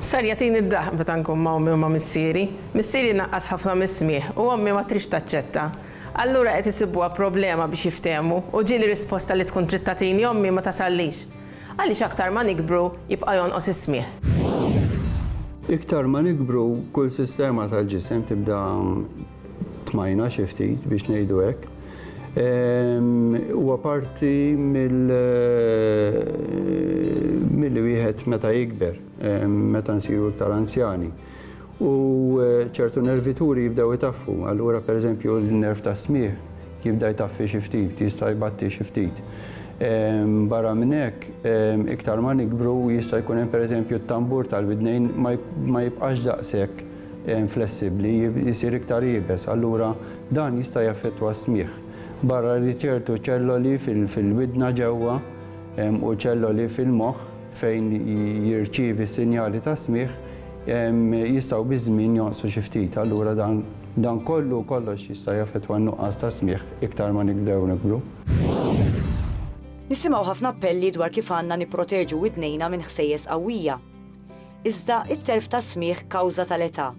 Sar jagħtini d-daħq meta nkun ma' ommi u ma' missieri. Missieri naqqas ħafna mis-smigħ u ommi ma tridx taċċetta. Allura qed isibuha problema biex jiftehmu u ġieli risposta li tkun trid tagħtini ommi ma tasallix. Għaliex aktar ma nikbru jibqa' jonqos is-smigħ? Iktar ma nikbru kull sistema tal-ġisem tibda Tmajna xi ftit biex ngħidu hekk. Huwa parti mill milli wieħed meta jikber, meta nsiru iktar anzjani. U eh, ċertu nervituri jibdew itaffu, allura pereżempju l-nerv ta' smieħ jibda jtaffi xi ftit, jista' jbatti xi ftit. Barra minn hekk, iktar ma nikbru jista' jkun hemm pereżempju t-tambur tal-widnejn ma jibqax daqshekk inflessibbli jsir iktar iebes, allura dan jista' jaffettwa s-smigħ. Barra li ċertu ċelloli fil-widna ġewwa u ċelloli fil-moħħ fejn jirċievi s-sinjali tas-smigħ jistgħu biż-żmien jonqsu xi ftit, allura dan kollu kollox jista' jaffettwa n-nuqqas ta' smigħ iktar ma nibdew nikbru. Nisimgħu ħafna appelli dwar kif għandna nipproteġu widnejna minn ħsejjes qawwija. Iżda, it-telf ta' smigħ kawża tal-età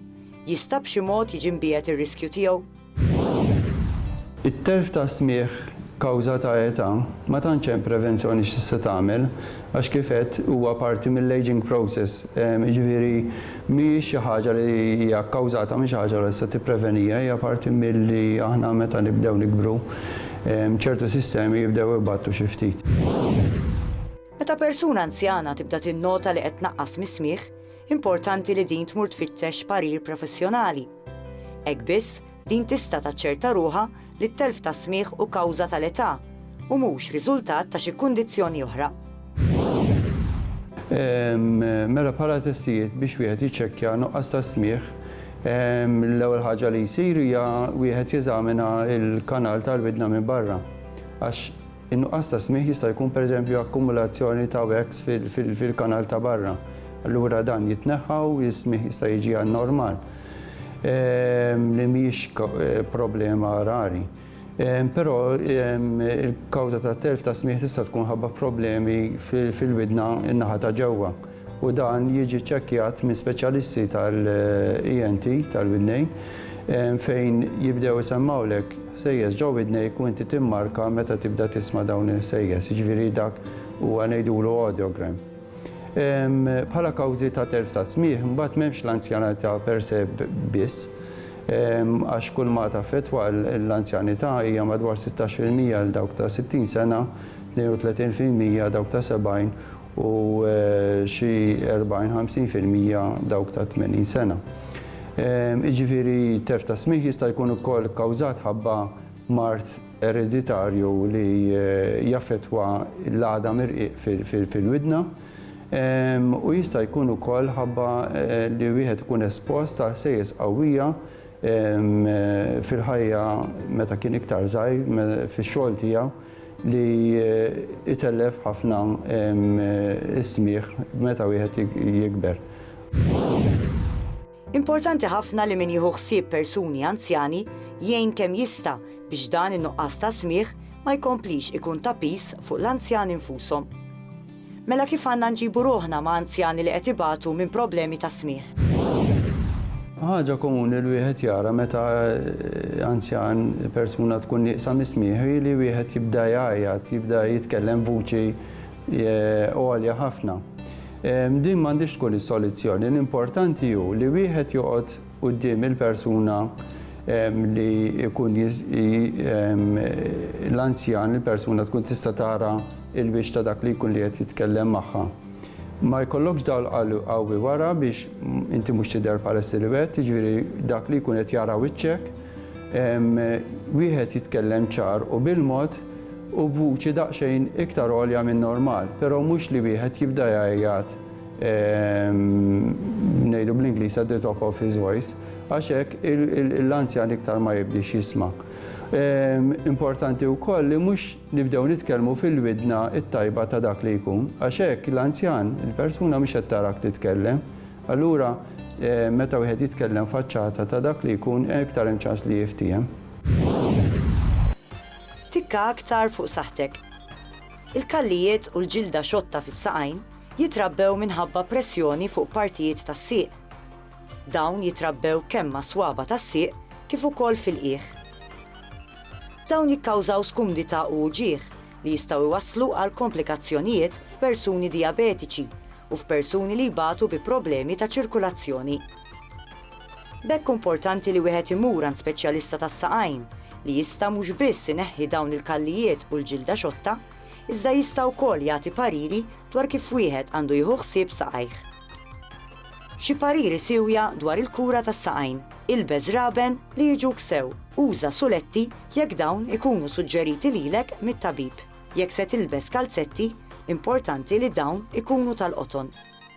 jista' b'xi mod jiġi mbiegħed ir-riskju tiegħu? It-telf ta' smigħ kawża ta' età ma tantx hemm prevenzjoni x'tista' tagħmel għax kif għedt huwa parti mill-ageing process, jiġifieri mhijiex xi ħaġa li hija kkawżata minn xi ħaġa li tista' tipprevenija, hija parti milli aħna meta nibdew nikbru ċertu sistemi jibdew ibattu xi ftit. Meta persuna anzjana tibda tinnota li qed tnaqqas mis-smigħ, importanti li din tmur tfittex parir professjonali. Hekk biss, din tista' taċċerta ruħha li t-telf tas-smigħ hu kawża tal-età u mhux riżultat ta' xi kundizzjoni oħra. Mela bħala testijiet biex wieħed jiċċekkja nuqqas ta' smigħ, l-ewwel ħaġa li jsir hija wieħed jeżamina l-kanal tal-widna minn barra għax In-nuqqas ta' smigħ jista' jkun pereżempju akkumulazzjoni ta' wax fil-kanal ta' barra. Allura dan jitneħħa u s-smigħ jista' jiġi għan-normal, li mhijiex problema rari. Però il-kawża ta' telf ta' smigħ tista' tkun ħabba problemi fil-widna n-naħa ta' ġewwa. u dan jiġi ċċekkjat minn speċjalisti tal-ENT tal-widnejn fejn jibdew isemmgħulek sejjes ġo widnejk u inti timmarka meta tibda tisma' dawn is-sejjes, jiġifieri dak huwa ngħidulu audiogram. Bħala kawżi ta' telf ta' smigħ imbagħad m'hemmx l-anzjanità per se biss għax kull ma taffettwa l-anzjanità hija madwar sittax fil-mija għal dawk ta' 60 sena, 32 fil-mija dawk ta' 70 u xi 40, 50 fil-mija dawk ta' 80 sena. Jiġifieri telf ta' smigħ jista' jkun ukoll kkawżat ħabba mard ereditarju li jaffettwa l-għadam irqiq fil-widna u jista' jkun ukoll ħabba li wieħed ikun espost għal ħsejjes qawwija fil-ħajja meta kien iktar żgħir fix-xogħol tiegħu. li itellef ħafna is-smigħ meta wieħed jikber. Importanti ħafna li min jieħu ħsieb persuni anzjani jgħin kemm jista' biex dan in-nuqqas ta' smigħ ma jkomplix ikun ta' piż fuq l-anzjani nfushom. Mela kif għandna nġibu ruħna ma' anzjani li qed ibatu minn problemi tas-smigħ? Ħaġa komuni li wieħed jara meta anzjan, persuna tkun nieqsa mis-smigħ hi li wieħed jibda jgħajjat, jibda jitkellem b'vuċi għolja ħafna. Din m'għandhiex tkun is-soluzzjoni, l-importanti hu li wieħed joqgħod quddiem il-persuna li jkun l-anzjan, il-persuna tkun tista' tara l-wiċċ ta' dak li jkun li qed jitkellem magħha. Ma jkollokx dawl qawwi wara biex inti mhux tidher bħala silhouette, jiġifieri dak li jkun qed jara wiċċek, wieħed jitkellem ċar u bil-mod u b'vuċi daqsxejn iktar għolja min-normal, però mhux li wieħed jibda jgħajjat ngħidu bl-Ingliż at the top of his voice, għax hekk l-anzjan iktar ma jibdix jisma'. Importanti wkoll li mhux nibdew nitkellmu fil-widna t-tajba ta' dak li jkun, għax hekk l-anzjan, il-persuna mhux qed tarak titkellem. Allura meta wieħed jitkellem faċċata ta' dak li jkun iktar hemm ċans li jiftiehem. Tikka aktar fuq saħħtek. Il-kallijiet u l-ġilda xotta fis-saqajn Jitrabbew minħabba pressjoni fuq partijiet tas-sieq. Dawn jitrabbew kemm mas-swaba' tas-sieq kif ukoll fil-qiegħ. Dawn jikkawżaw skumdità u uġigħ li jistgħu jwasslu għal komplikazzjonijiet f'persuni dijabetiċi u f'persuni li jbatu bi problemi ta' ċirkulazzjoni. B'hekk umportanti li wieħed imur għand speċjalista tas-saqajn li jista' mhux biss ineħħi dawn il-kallijiet u l-ġilda xotta, iżda jista' wkoll jagħti pariri dwar kif wieħed għandu jieħu ħsieb saqajh. Xi pariri siewja dwar il-kura tas-saqajn, Ilbes żraben li jiġuk sew, uża suletti jekk dawn ikunu suġġeriti lilek mit-tabib, jekk se tilbes kalzetti, importanti li dawn ikunu tal-qoton.